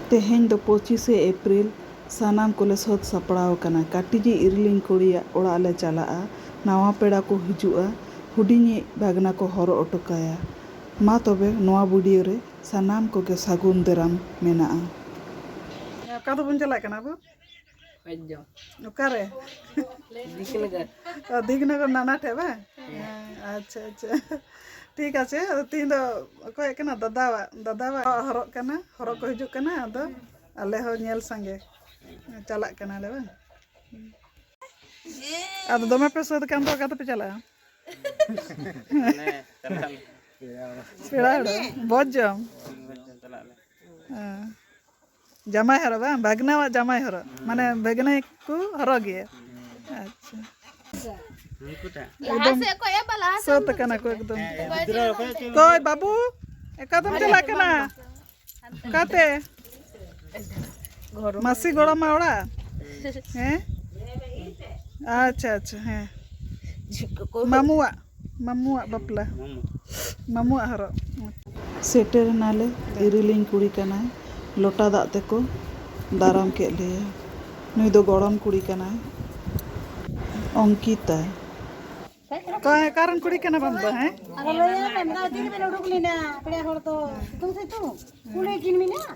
ᱛᱮᱦᱮᱧ ᱫᱚ ᱯᱚᱸᱪᱤᱥᱮ ᱮᱯᱨᱤᱞ᱾ ᱥᱟᱱᱟᱢ ᱠᱚᱞᱮ ᱥᱟᱹᱛ ᱥᱟᱯᱲᱟᱣ ᱟᱠᱟᱱᱟ᱾ ᱠᱟᱹᱴᱤᱡᱤᱡ ᱤᱨᱤᱞᱤᱧ ᱠᱩᱲᱤᱭᱟᱜ ᱚᱲᱟᱜ ᱞᱮ ᱪᱟᱞᱟᱜᱼᱟ᱾ ᱱᱟᱶᱟ ᱯᱮᱲᱟ ᱠᱚ ᱦᱤᱡᱩᱜᱼᱟ᱾ ᱦᱩᱰᱤᱧᱤᱡ ᱵᱷᱟᱹᱜᱽᱱᱟ ᱠᱚ ᱦᱚᱨᱚᱜ ᱚᱴᱚ ᱠᱟᱭᱟ᱾ ᱢᱟ ᱛᱚᱵᱮ ᱱᱚᱶᱟ ᱵᱷᱤᱰᱤᱭᱳ ᱨᱮ ᱥᱟᱱᱟᱢ ᱠᱚᱜᱮ ᱥᱟᱹᱜᱩᱱ ᱫᱟᱨᱟᱢ ᱢᱮᱱᱟᱜᱼᱟ᱾ ᱚᱠᱟ ᱫᱚᱵᱚᱱ ᱪᱟᱞᱟᱜ ᱠᱟᱱᱟ ᱵᱚ? ᱚᱠᱟᱨᱮ ᱚ ᱫᱤᱠᱱᱚᱜᱚᱨ ᱱᱟᱱᱟ ᱴᱷᱮᱡ ᱵᱟᱝ ᱟᱪᱪᱷᱟ ᱟᱪᱪᱷᱟ ᱴᱷᱤᱠ ᱟᱪᱷᱮ ᱟᱫᱚ ᱛᱤᱦᱤᱧ ᱫᱚ ᱚᱠᱚᱭ ᱦᱮᱡ ᱠᱟᱱᱟ ᱫᱟᱫᱟᱣᱟᱜ ᱫᱟᱫᱟᱣᱟᱜ ᱦᱚᱨᱚᱜ ᱠᱟᱱᱟ ᱦᱚᱨᱚᱜ ᱠᱚ ᱦᱤᱡᱩᱜ ᱠᱟᱱᱟ ᱟᱫᱚ ᱟᱞᱮ ᱦᱚᱸ ᱧᱮᱞ ᱥᱟᱸᱜᱮ ᱪᱟᱞᱟᱜ ᱠᱟᱱᱟᱞᱮ ᱵᱟᱝ ᱟᱫᱚ ᱫᱚᱢᱮ ᱯᱮ ᱥᱟᱹᱛ ᱠᱟᱱ ᱫᱚ ᱚᱠᱟ ᱛᱮᱯᱮ ᱪᱟᱞᱟᱜᱼᱟ ᱯᱮᱲᱟ ᱦᱚᱲ ᱵᱷᱚᱡᱽ ᱡᱚᱢ ᱦᱮᱸ ᱡᱟᱢᱟᱭ ᱦᱚᱨᱚᱜ ᱵᱟᱝ ᱵᱷᱟᱜᱽᱱᱟᱣᱟᱜ ᱡᱟᱢᱟᱭ ᱦᱚᱨᱚᱜ ᱢᱟᱱᱮ ᱵᱷᱟᱜᱽᱱᱟᱭ ᱠᱚ ᱦᱚᱨᱚᱜ ᱜᱮᱭᱟ ᱟᱪᱪᱷᱟ ᱮᱠᱫᱚᱢ ᱥᱟᱹᱛ ᱠᱟᱱᱟ ᱠᱚ ᱮᱠᱫᱚᱢ ᱠᱚᱭ ᱵᱟᱹᱵᱩ ᱮᱠᱟᱫᱚᱢ ᱪᱟᱞᱟᱜ ᱠᱟᱱᱟ ᱚᱠᱟᱛᱮ ᱢᱟᱥᱤ ᱜᱚᱲᱚᱢᱟ ᱚᱲᱟᱜ ᱦᱮᱸ ᱟᱪᱪᱷᱟ ᱟᱪᱪᱷᱟ ᱦᱮᱸ ᱢᱟᱢᱩᱣᱟᱜ ᱢᱟᱢᱩᱣᱟᱜ ᱵᱟᱯᱞᱟ ᱢᱟᱢᱩᱣᱟᱜ ᱦᱚᱨᱚᱜ᱾ ᱥᱮᱴᱮᱨ ᱮᱱᱟᱞᱮ ᱤᱨᱤᱞᱤᱧ ᱠᱩᱲᱤ ᱠᱟᱱᱟᱭ ᱞᱚᱴᱟ ᱫᱟᱜ ᱛᱮᱠᱚ ᱫᱟᱨᱟᱢ ᱠᱮᱫ ᱞᱮᱭᱟ ᱱᱩᱭ ᱫᱚ ᱜᱚᱲᱚᱢ ᱠᱩᱲᱤ ᱠᱟᱱᱟᱭ ᱚᱝᱠᱤᱛᱟ᱾ ᱚᱠᱚᱭ ᱚᱠᱟ ᱨᱮᱱ ᱠᱩᱲᱤ ᱠᱟᱱᱟ ᱵᱟᱢ ᱫᱚ ᱦᱮᱸ? ᱟᱨᱚ ᱞᱟᱹᱭ ᱟᱭ ᱢᱮ ᱢᱮᱛᱟᱭ ᱢᱮ ᱛᱤ ᱨᱮᱵᱮᱱ ᱩᱰᱩᱠ ᱞᱮᱱᱟ ᱯᱮᱲᱟ ᱦᱚᱲ ᱫᱚ ᱥᱤᱛᱩᱝ ᱥᱤᱛᱩᱝ ᱠᱩᱞᱦᱤ ᱠᱤᱱ ᱢᱮᱱᱟᱜ᱾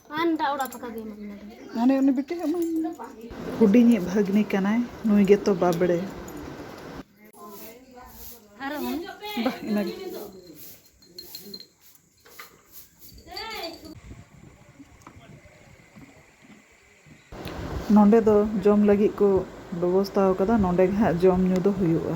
ᱦᱟᱱᱮ ᱩᱱᱤ ᱵᱤᱴᱤ ᱦᱩᱰᱤᱧᱤᱡ ᱵᱷᱟᱹᱜᱽᱱᱤ ᱠᱟᱱᱟᱭ ᱱᱩᱭ ᱜᱮᱛᱚ ᱵᱟᱵᱲᱮ ᱵᱟᱦ ᱤᱱᱟᱹᱜᱮ ᱱᱚᱰᱮ ᱫᱚ ᱡᱚᱢ ᱞᱟᱹᱜᱤᱫ ᱠᱚ ᱵᱮᱵᱚᱥᱛᱷᱟ ᱟᱠᱟᱫᱟ ᱱᱚᱰᱮ ᱜᱮ ᱦᱟᱸᱜ ᱡᱚᱢ ᱧᱩ ᱫᱚ ᱦᱩᱭᱩᱜᱼᱟ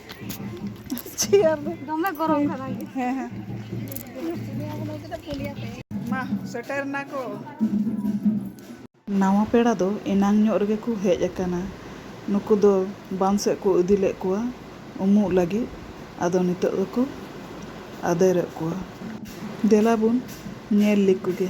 ᱪᱮᱭᱟᱨ ᱨᱮ ᱫᱚᱢᱮ ᱜᱚᱨᱚᱢ ᱠᱟᱱᱟ ᱦᱮᱸ ᱦᱮᱸ ᱢᱟ ᱥᱮᱴᱮᱨ ᱱᱟᱠᱚ ᱱᱟᱣᱟ ᱯᱮᱲᱟ ᱫᱚ ᱮᱱᱟᱝ ᱧᱚᱜ ᱨᱮᱜᱮ ᱠᱚ ᱦᱮᱡ ᱟᱠᱟᱱᱟ ᱱᱩᱠᱩ ᱫᱚ ᱵᱟᱸᱫᱽ ᱥᱮᱫ ᱠᱚ ᱤᱫᱤ ᱞᱮᱫ ᱠᱚᱣᱟ ᱩᱢᱩᱜ ᱞᱟᱹᱜᱤᱫ ᱟᱫᱚ ᱱᱤᱛᱚᱜ ᱫᱚᱠᱚ ᱟᱫᱮᱨᱮᱫ ᱠᱚᱣᱟ ᱫᱮᱞᱟ ᱵᱚᱱ ᱧᱮᱞ ᱞᱮᱠᱚ ᱜᱮ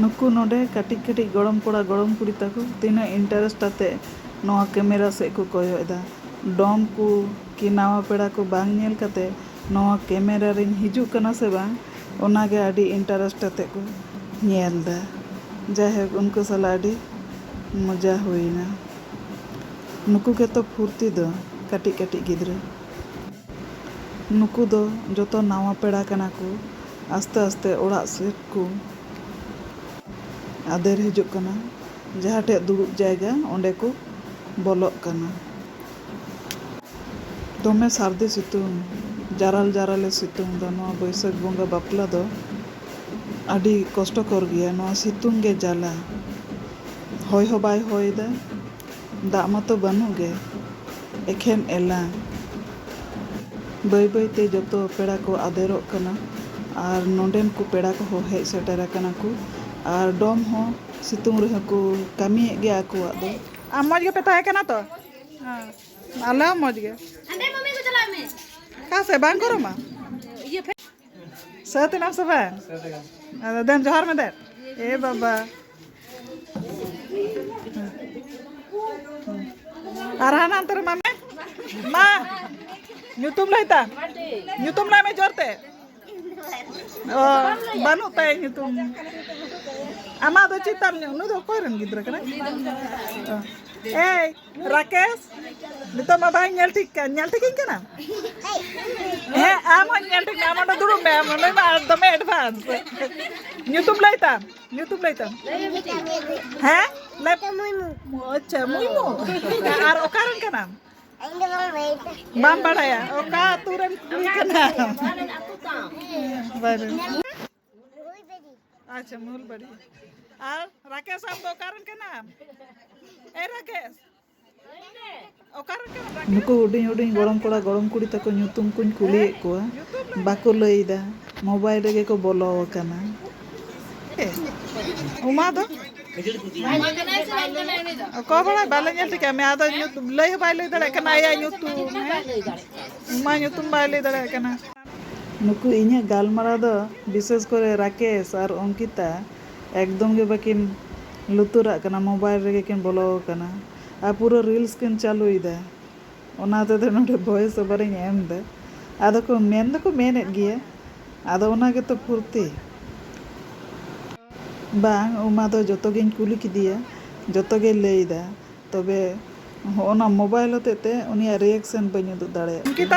ᱱᱩᱠᱩ ᱱᱚᱰᱮ ᱠᱟᱹᱴᱤᱡ ᱠᱟᱹᱴᱤᱡ ᱜᱚᱲᱚᱢ ᱠᱚᱲᱟ ᱜᱚᱲᱚᱢ ᱠᱩᱲᱤ ᱛᱟᱠᱚ ᱛᱤᱱᱟᱹᱜ ᱤᱱᱴᱟᱨᱮᱥᱴ ᱟᱛᱮ ᱱᱚᱣᱟ ᱠᱮᱢᱮᱨᱟ ᱥᱮᱫ ᱠᱚ ᱠᱚᱭᱚᱜ ᱮᱫᱟ᱾ ᱰᱚᱢ ᱠᱚ ᱠᱤ ᱱᱟᱣᱟ ᱯᱮᱲᱟ ᱠᱚ ᱵᱟᱝ ᱧᱮᱞ ᱠᱟᱛᱮ ᱱᱚᱣᱟ ᱠᱮᱢᱮᱨᱟ ᱨᱤᱧ ᱦᱤᱡᱩᱜ ᱠᱟᱱᱟ ᱥᱮ ᱵᱟᱝ ᱚᱱᱟ ᱜᱮ ᱟᱹᱰᱤ ᱤᱱᱴᱟᱨᱮᱥᱴ ᱟᱛᱮ ᱠᱚ ᱧᱮᱞ ᱮᱫᱟ᱾ ᱡᱟᱭᱦᱳᱠ ᱩᱱᱠᱩ ᱥᱟᱞᱟᱜ ᱟᱹᱰᱤ ᱢᱚᱡᱟ ᱦᱩᱭ ᱮᱱᱟ᱾ ᱱᱩᱠᱩ ᱜᱮᱛᱚ ᱯᱷᱩᱨᱛᱤ ᱫᱚ ᱠᱟᱹᱴᱤᱡ ᱠᱟᱹᱴᱤᱡ ᱜᱤᱫᱽᱨᱟᱹ᱾ ᱱᱩᱠᱩ ᱫᱚ ᱡᱚᱛᱚ ᱱᱟᱣᱟ ᱯᱮᱲᱟ ᱠᱟᱱᱟ ᱠᱚ᱾ ᱟᱥᱛᱮ ᱟᱥᱛᱮ ᱚᱲᱟᱜ ᱥᱮᱫ ᱠᱚ ᱟᱫᱮᱨ ᱦᱤᱡᱩᱜ ᱠᱟᱱᱟ᱾ ᱡᱟᱦᱟᱸ ᱴᱷᱮᱱ ᱫᱩᱲᱩᱵ ᱡᱟᱭᱜᱟ ᱚᱸᱰᱮ ᱠᱚ ᱵᱚᱞᱚᱜ ᱠᱟᱱᱟ᱾ ᱫᱚᱢᱮ ᱥᱟᱹᱨᱫᱤ ᱥᱤᱛᱩᱝ, ᱡᱟᱨᱟᱞ ᱡᱟᱨᱟᱞᱮ ᱥᱤᱛᱩᱝ ᱫᱟ᱾ ᱱᱚᱣᱟ ᱵᱟᱹᱭᱥᱟᱹᱠᱷ ᱵᱚᱸᱜᱟ ᱵᱟᱯᱞᱟ ᱫᱚ ᱟᱹᱰᱤ ᱠᱚᱥᱴᱚᱠᱚᱨ ᱜᱮᱭᱟ᱾ ᱱᱚᱣᱟ ᱥᱤᱛᱩᱝ ᱜᱮ ᱡᱟᱞᱟ᱾ ᱦᱚᱭ ᱦᱚᱸ ᱵᱟᱭ ᱦᱚᱭ ᱫᱟ᱾ ᱫᱟᱜ ᱢᱟᱛᱚ ᱵᱟᱹᱱᱩᱜ ᱜᱮ ᱮᱠᱷᱮᱱ ᱮᱞᱟ᱾ ᱵᱟᱹᱭ ᱵᱟᱹᱭ ᱛᱮ ᱡᱚᱛᱚ ᱯᱮᱲᱟ ᱠᱚ ᱟᱫᱮᱨᱚᱜ ᱠᱟᱱᱟ ᱟᱨ ᱱᱚᱰᱮᱱ ᱠᱚ ᱯᱮᱲᱟ ᱠᱚᱦᱚᱸ ᱦᱮᱡ ᱥᱮᱴᱮᱨ ᱟᱠᱟᱱᱟ ᱠᱚ ᱟᱨ ᱰᱚᱢ ᱦᱚᱸ ᱥᱤᱛᱩᱝ ᱨᱮᱦᱚᱸ ᱠᱚ ᱠᱟᱹᱢᱤᱭᱮᱫ ᱜᱮᱭᱟ ᱟᱠᱚᱣᱟᱜ ᱫᱚ᱾ ᱟᱢ ᱢᱚᱡᱽ ᱜᱮᱯᱮ ᱛᱟᱦᱮᱸ ᱠᱟᱱᱟ ᱛᱚ? ᱟᱞᱮ ᱦᱚᱸ ᱢᱚᱡᱽ ᱜᱮ᱾ ᱚᱠᱟ ᱥᱮᱫ ᱵᱟᱝ ᱜᱚᱨᱚᱢᱟ? ᱥᱟᱹᱛ ᱮᱱᱟᱢ ᱥᱮ ᱵᱟᱝ ᱟᱫᱚ ᱫᱮᱱ ᱡᱚᱦᱟᱨ ᱢᱮ ᱫᱮᱱ ᱮ ᱵᱟᱵᱟ ᱟᱨ ᱦᱟᱱᱟ ᱦᱟᱱᱛᱮ ᱨᱮ ᱢᱟᱢᱮ ᱢᱟ ᱧᱩᱛᱩᱢ ᱞᱟᱹᱭ ᱛᱟᱢ ᱧᱩᱛᱩᱢ ᱞᱟᱹᱭ ᱢᱮ ᱡᱳᱨ ᱛᱮ ᱚ ᱵᱟᱹᱱᱩᱜ ᱛᱟᱭᱟ ᱧᱩᱛᱩᱢ ᱟᱢᱟᱜ ᱫᱚ ᱪᱮᱫ ᱛᱟᱢ ᱱᱩᱭ ᱫᱚ ᱚᱠᱚᱭ ᱨᱮᱱ ᱜᱤᱫᱽᱨᱟᱹ ᱠᱟᱱᱟᱭ ᱚ, ᱮᱭ ᱨᱟᱠᱮᱥ ᱱᱤᱛᱚᱜ ᱢᱟ ᱵᱟᱭ ᱧᱮᱞ ᱴᱷᱤᱠ ᱠᱟᱱ ᱧᱮᱞ ᱴᱷᱤᱠᱤᱧ ᱠᱟᱱᱟ ᱦᱮᱸ ᱟᱢ ᱦᱚᱸ ᱧᱮᱞ ᱴᱷᱤᱠ ᱟᱢ ᱚᱸᱰᱮ ᱫᱩᱲᱩᱵ ᱢᱮ ᱟᱢ ᱚᱸᱰᱮ ᱢᱟ ᱫᱚᱢᱮ ᱮᱰᱵᱷᱟᱱᱥ ᱧᱩᱛᱩᱢ ᱞᱟᱹᱭ ᱛᱟᱢ ᱧᱩᱛᱩᱢ ᱞᱟᱹᱭ ᱛᱟᱢ ᱦᱮᱸ ᱞᱟᱹᱭ ᱯᱮ ᱢᱩᱭᱢᱩ ᱟᱪᱪᱷᱟ ᱢᱩᱭᱢᱩ ᱟᱨ ᱚᱠᱟᱨᱮᱱ ᱠᱟᱱᱟᱢ ᱵᱟᱢ ᱵᱟᱲᱟᱭᱟ ᱚᱠᱟ ᱟᱹᱛᱩ ᱨᱮᱱ ᱠᱩᱲᱤ ᱠᱟᱱᱟᱢ ᱟᱪᱪᱷᱟ ᱢᱩᱞᱵᱟᱹᱲᱤ ᱟᱨ ᱨᱟᱠᱮᱥ ᱟᱢ ᱫᱚ ᱚᱠᱟᱨᱮᱱ ᱠᱟᱱᱟᱢ ᱮ ᱨᱟᱠᱮᱥ ᱱᱩᱠᱩ ᱦᱩᱰᱤᱧ ᱦᱩᱰᱤᱧ ᱜᱚᱲᱚᱢ ᱠᱚᱲᱟ ᱜᱚᱲᱚᱢ ᱠᱩᱲᱤ ᱛᱟᱠᱚ ᱧᱩᱛᱩᱢ ᱠᱚᱧ ᱠᱩᱞᱤᱭᱮᱫ ᱠᱚᱣᱟ ᱵᱟᱠᱚ ᱞᱟᱹᱭᱫᱟ ᱢᱳᱵᱟᱭᱤᱞ ᱨᱮᱜᱮ ᱠᱚ ᱵᱚᱞᱚ ᱟᱠᱟᱱᱟ ᱩᱢᱟ ᱫᱚ ᱚᱠᱚᱭ ᱵᱟᱲᱟᱭ ᱵᱟᱞᱮ ᱧᱮᱞ ᱴᱷᱤᱠᱟ ᱢᱮ ᱟᱫᱚ ᱞᱟᱹᱭ ᱦᱚᱸ ᱵᱟᱭ ᱞᱟᱹᱭ ᱫᱟᱲᱮᱭᱟᱜ ᱠᱟᱱᱟ ᱟᱭᱟᱜ ᱧᱩᱛᱩᱢ ᱩᱢᱟ ᱧᱩᱛᱩᱢ ᱵᱟᱭ ᱞᱟᱹᱭ ᱫᱟᱲᱮᱭᱟᱜ ᱠᱟᱱᱟ ᱱᱩᱠᱩ ᱤᱧᱟᱹᱜ ᱜᱟᱞᱢᱟᱨᱟᱣ ᱫᱚ ᱵᱤᱥᱮᱥ ᱠᱚᱨᱮ ᱨᱟᱠᱮᱥ ᱟᱨ ᱚᱝᱠᱤᱛᱟ ᱮᱠᱫᱚᱢ ᱜᱮ ᱵᱟᱠᱤᱱ ᱞᱩᱛᱩᱨᱟᱜ ᱠᱟᱱᱟ ᱢᱚᱵᱟᱭᱤᱞ ᱨᱮᱜᱮ ᱠᱤᱱ ᱵᱚᱞᱚ ᱟᱠᱟᱱᱟ ᱟᱨ ᱯᱩᱨᱟᱹ ᱨᱤᱞᱥ ᱠᱤᱱ ᱪᱟᱞᱩᱭᱮᱫᱟ ᱚᱱᱟ ᱛᱮᱫᱚ ᱱᱚᱰᱮ ᱵᱷᱚᱭᱮᱥ ᱚᱵᱷᱟᱨ ᱤᱧ ᱮᱢ ᱮᱫᱟ ᱟᱫᱚ ᱠᱚ ᱢᱮᱱ ᱫᱚᱠᱚ ᱢᱮᱱ ᱮᱫ ᱜᱮᱭᱟ ᱟᱫᱚ ᱚᱱᱟ ᱜᱮᱛᱚ ᱯᱷᱩᱨᱛᱤ ᱵᱟᱝ ᱩᱢᱟ ᱫᱚ ᱡᱚᱛᱚ ᱜᱮᱧ ᱠᱩᱞᱤ ᱠᱮᱫᱮᱭᱟ ᱡᱚᱛᱚ ᱜᱮᱭ ᱞᱟᱹᱭ ᱮᱫᱟ ᱛᱚᱵᱮ ᱦᱚᱜᱼᱚᱭ ᱱᱚᱣᱟ ᱢᱚᱵᱟᱭᱤᱞ ᱦᱚᱛᱮᱡ ᱛᱮ ᱩᱱᱤᱭᱟᱜ ᱨᱤᱭᱮᱠᱥᱮᱱ ᱵᱟᱹᱧ ᱩᱫᱩᱜ ᱫᱟᱲᱮᱭᱟᱜ ᱠᱟᱱᱟ᱾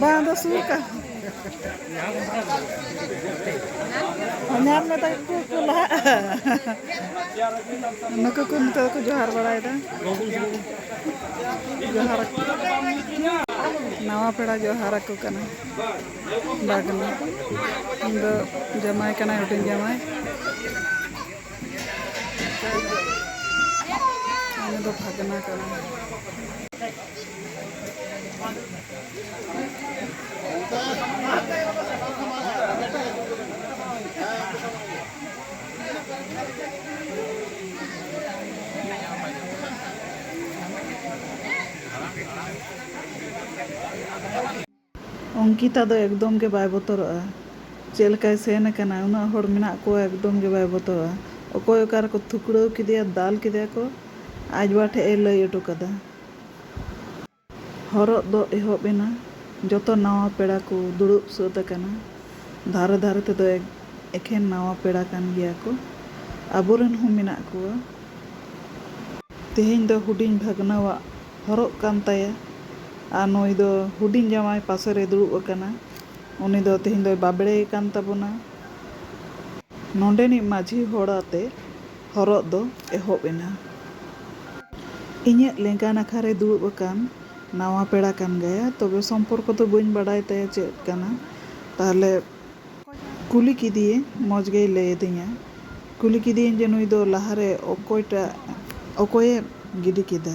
ᱵᱟᱝ ᱫᱚ ᱥᱩᱨ ᱠᱟ ᱧᱟᱢ ᱢᱮ ᱛᱟᱠᱚ ᱠᱚ ᱠᱚ ᱞᱟᱦᱟᱜᱼᱟ ᱱᱩᱠᱩ ᱠᱚ ᱱᱤᱛᱚᱜ ᱠᱚ ᱡᱚᱦᱟᱨ ᱵᱟᱲᱟᱭᱮᱫᱟ ᱡᱚᱦᱟᱨ ᱱᱟᱣᱟ ᱯᱮᱲᱟ ᱡᱚᱦᱟᱨ ᱟᱠᱚ ᱠᱟᱱᱟ ᱵᱟᱜᱽᱱᱟ ᱤᱧ ᱫᱚ ᱡᱟᱢᱟᱭ ᱠᱟᱱᱟᱭ ᱦᱩᱰᱤᱧ ᱡᱟᱢᱟᱭ ᱩᱱᱤ ᱫᱚ ᱵᱷᱟᱜᱽᱱᱟ ᱠᱟᱱᱟ ᱚᱝᱠᱤᱛᱟ ᱫᱚ ᱮᱠᱫᱚᱢ ᱜᱮ ᱵᱟᱭ ᱵᱚᱛᱚᱨᱚᱜᱼᱟ᱾ ᱪᱮᱫ ᱞᱮᱠᱟᱭ ᱥᱮᱱ ᱟᱠᱟᱱᱟ, ᱩᱱᱟᱹᱜ ᱦᱚᱲ ᱢᱮᱱᱟᱜ ᱠᱚᱣᱟ ᱮᱠᱫᱚᱢ ᱜᱮ ᱵᱟᱭ ᱵᱚᱛᱚᱨᱚᱜᱼᱟ᱾ ᱚᱠᱚᱭ ᱚᱠᱟ ᱨᱮᱠᱚ ᱛᱷᱩᱠᱲᱟᱹᱣ ᱠᱮᱫᱮᱭᱟ, ᱫᱟᱞ ᱠᱮᱫᱮᱭᱟ ᱠᱚ, ᱟᱡ ᱵᱟ ᱴᱷᱮᱡ ᱮ ᱞᱟᱹᱭ ᱚᱴᱚ ᱠᱟᱫᱟ᱾ ᱦᱚᱨᱚᱜ ᱫᱚ ᱮᱦᱚᱵ ᱮᱱᱟ᱾ ᱡᱚᱛᱚ ᱱᱟᱶᱟ ᱯᱮᱲᱟ ᱠᱚ ᱫᱩᱲᱩᱵ ᱥᱟᱹᱛ ᱟᱠᱟᱱᱟ᱾ ᱫᱷᱟᱨᱮ ᱫᱷᱟᱨᱮ ᱛᱮᱫᱚ ᱮᱠᱷᱮᱱ ᱱᱟᱶᱟ ᱯᱮᱲᱟ ᱠᱟᱱ ᱜᱮᱭᱟ ᱠᱚ᱾ ᱟᱵᱚ ᱨᱮᱱ ᱦᱚᱸ ᱢᱮᱱᱟᱜ ᱠᱚᱣᱟ᱾ ᱛᱮᱦᱮᱧ ᱫᱚ ᱦᱩᱰᱤᱧ ᱵᱷᱟᱹᱜᱽᱱᱟᱹᱣᱟᱜ ᱦᱚᱨᱚᱜ ᱠᱟᱱ ᱛᱟᱭᱟ ᱟᱨ ᱱᱩᱭ ᱫᱚ ᱦᱩᱰᱤᱧ ᱡᱟᱶᱟᱭ ᱯᱟᱥᱮ ᱨᱮᱭ ᱫᱩᱲᱩᱵ ᱟᱠᱟᱱᱟ᱾ ᱩᱱᱤ ᱫᱚ ᱛᱮᱦᱮᱧ ᱫᱚᱭ ᱵᱟᱵᱽᱲᱮ ᱟᱠᱟᱱ ᱛᱟᱵᱚᱱᱟ᱾ ᱱᱚᱸᱰᱮᱱᱤᱡ ᱢᱟᱹᱡᱷᱤ ᱦᱚᱲ ᱟᱛᱮ ᱦᱚᱨᱚᱜ ᱫᱚ ᱮᱦᱚᱵ ᱮᱱᱟ᱾ ᱤᱧᱟᱹᱜ ᱞᱮᱸᱜᱟ ᱱᱟᱠᱷᱟ ᱨᱮ ᱫᱩᱲᱩᱵ ᱟᱠᱟᱱ ᱱᱟᱣᱟ ᱯᱮᱲᱟ ᱠᱟᱱ ᱜᱟᱭᱟ᱾ ᱛᱚᱵᱮ ᱥᱚᱢᱯᱚᱨᱠᱚ ᱫᱚ ᱵᱟᱹᱧ ᱵᱟᱰᱟᱭ ᱛᱟᱭᱟ ᱪᱮᱫ ᱠᱟᱱᱟ᱾ ᱛᱟᱦᱞᱮ ᱠᱩᱞᱤ ᱠᱮᱫᱮᱭᱟᱹᱧ ᱢᱚᱡᱽ ᱜᱮᱭ ᱞᱟᱹᱭ ᱟᱹᱫᱤᱧᱟ᱾ ᱠᱩᱞᱤ ᱠᱮᱫᱮᱭᱟᱹᱧ ᱡᱮ ᱱᱩᱭ ᱫᱚ ᱞᱟᱦᱟ ᱨᱮ ᱚᱠᱚᱭ ᱴᱟᱜ ᱚᱠᱚᱭᱮ ᱜᱤᱰᱤ ᱠᱮᱫᱟ᱾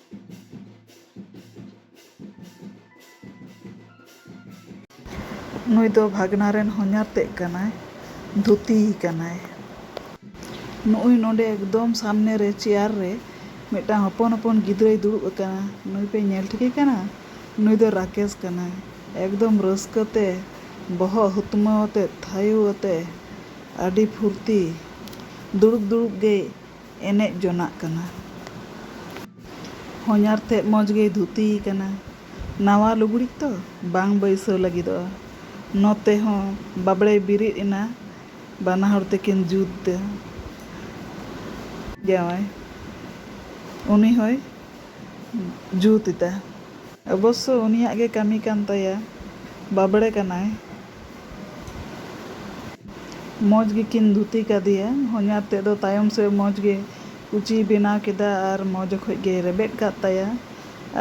ᱱᱩᱭ ᱫᱚ ᱵᱷᱟᱜᱽᱱᱟ ᱨᱮᱱ ᱦᱚᱧᱦᱟᱨ ᱛᱮᱫ ᱠᱟᱱᱟᱭ, ᱫᱷᱩᱛᱤ ᱠᱟᱱᱟᱭ᱾ ᱱᱩᱜᱼᱩᱭ ᱱᱚᱸᱰᱮ ᱮᱠᱫᱚᱢ ᱥᱟᱢᱱᱮ ᱨᱮ ᱪᱮᱭᱟᱨ ᱨᱮ ᱢᱤᱫᱴᱟᱹᱝ ᱦᱚᱯᱚᱱ ᱦᱚᱯᱚᱱ ᱜᱤᱫᱽᱨᱟᱹᱭ ᱫᱩᱲᱩᱵ ᱟᱠᱟᱱᱟ᱾ ᱱᱩᱭ ᱯᱮ ᱧᱮᱞ ᱴᱷᱤᱠᱮ ᱠᱟᱱᱟ? ᱱᱩᱭ ᱫᱚ ᱨᱟᱠᱮᱥ ᱠᱟᱱᱟᱭ᱾ ᱮᱠᱫᱚᱢ ᱨᱟᱹᱥᱠᱟᱹ ᱛᱮ ᱵᱚᱦᱚᱜ ᱦᱩᱛᱢᱟᱹᱣ ᱟᱛᱮ ᱛᱷᱟᱭᱩ ᱟᱛᱮ ᱟᱹᱰᱤ ᱯᱷᱩᱨᱛᱤ᱾ ᱫᱩᱲᱩᱵ ᱫᱩᱲᱩᱵ ᱜᱮᱭ᱾ ᱮᱱᱮᱡ ᱡᱚᱱᱟᱜ ᱠᱟᱱᱟ᱾ ᱦᱚᱧᱦᱟᱨ ᱛᱮᱫ ᱢᱚᱡᱽ ᱜᱮᱭ ᱫᱷᱩᱛᱤ ᱟᱠᱟᱱᱟ᱾ ᱱᱟᱶᱟ ᱞᱩᱜᱽᱲᱤᱡ ᱛᱚ ᱵᱟᱝ ᱵᱟᱹᱭᱥᱟᱹᱣ ᱞᱟᱹᱜᱤᱫᱚᱜᱼᱟ᱾ ᱱᱚᱛᱮ ᱦᱚᱸ ᱵᱟᱵᱽᱲᱮᱭ ᱵᱤᱨᱤᱫ ᱮᱱᱟ᱾ ᱵᱟᱱᱟ ᱦᱚᱲ ᱛᱮᱠᱤᱱ ᱡᱩᱛ ᱮᱫᱟ᱾ ᱡᱟᱶᱟᱭ ᱩᱱᱤ ᱦᱚᱸᱭ ᱡᱩᱛ ᱮᱫᱟ᱾ ᱚᱵᱚᱥᱥᱚ ᱩᱱᱤᱭᱟᱜ ᱜᱮ ᱠᱟᱹᱢᱤ ᱠᱟᱱ ᱛᱟᱭᱟ᱾ ᱵᱟᱵᱽᱲᱮ ᱠᱟᱱᱟᱭ᱾ ᱢᱚᱡᱽ ᱜᱮᱠᱤᱱ ᱫᱷᱩᱛᱤ ᱠᱟᱫᱮᱭᱟ᱾ ᱦᱚᱧᱦᱟᱨ ᱛᱮᱫ ᱫᱚ ᱛᱟᱭᱚᱢ ᱥᱮᱫ ᱢᱚᱡᱽ ᱜᱮ ᱠᱩᱪᱤᱭ ᱵᱮᱱᱟᱣ ᱠᱮᱫᱟ ᱟᱨ ᱢᱚᱡᱽ ᱚᱠᱚᱡ ᱜᱮᱭ ᱨᱮᱵᱮᱫ ᱠᱟᱫ ᱛᱟᱭᱟ᱾